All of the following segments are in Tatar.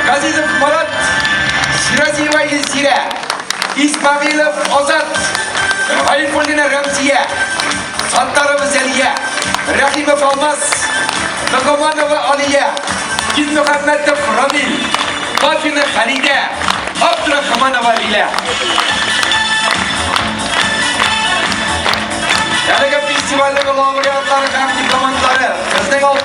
Газизов Марат, Сиразиева Ильсирә, Исмагилов Азат, Гайфуллина Рәмзия, Саттарова Зәлия, Рәхимов Алмаз, Нагоманова Алия, Динмөхәммәтов Рамил, Кафина Халидә, Абдрахманова Лилә. Әлеге фестивальдәге лауреатлар һәм дипломантлары безнең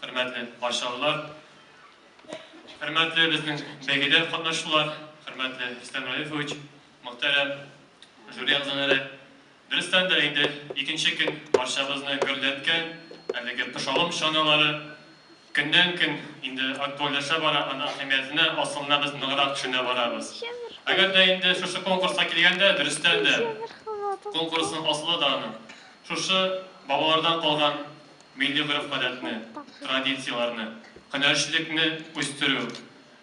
Хөрмәтле арчалылар! Хөрмәтле безнең бәйгедә катнашучылар! Хөрмәтле Рөстәм Рәифович! Мөхтәрәм жюри әгъзалары! Дөрестән дә инде икенче көн Арчабызны гөрләткән әлеге Пошалым чаналары көннән-көн инде актуальләшә бара, аның әһәмиятенә, асылына без ныграк төшенә барабыз. Әгәр дә инде шушы конкурска килгәндә, дөрестән дә конкурсның асылы да аның шушы бабалардан калган милли гореф-гадәтне, традицияләрне, һөнәрчелекне үстерү.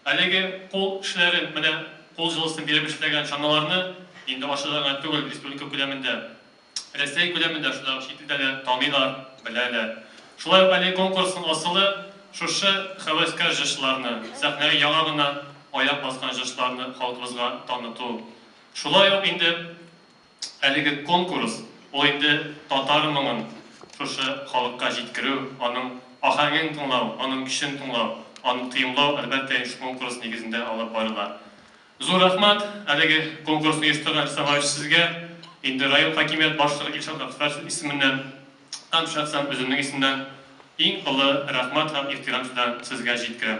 Әлеге кул эшләре, менә кул җылысын биреп эшләгән чаналарны инде Арчада гына түгел, республика күләмендә, Рәсәй күләмендә, шулай ук чит илдә дә таныйлар, беләләр. Шулай ук әлеге конкурсның асылы, шушы һәвәскәр җырчыларны, сәхнәгә яңа гына аяк баскан җырчыларны халкыбызга таныту. Шулай ук инде Әлеге конкурс Ой-де татар моңын шушы халыкка җиткерү, аның ахәңен тыңлау, аның көчен тыңлау, аны тоемлау, әлбәттә инде, шул конкурс нигезендә алып барыла. Зур рәхмәт әлеге конкурсны оештырган Рөстәм Иванович сезгә, инде район хакимият башлыгы Илшат Әхтәфәрсов исеменнән һәм шәхсән үземнең исемнән иң олы рәхмәт һәм ихтирам сүзләрен сезгә җиткерәм.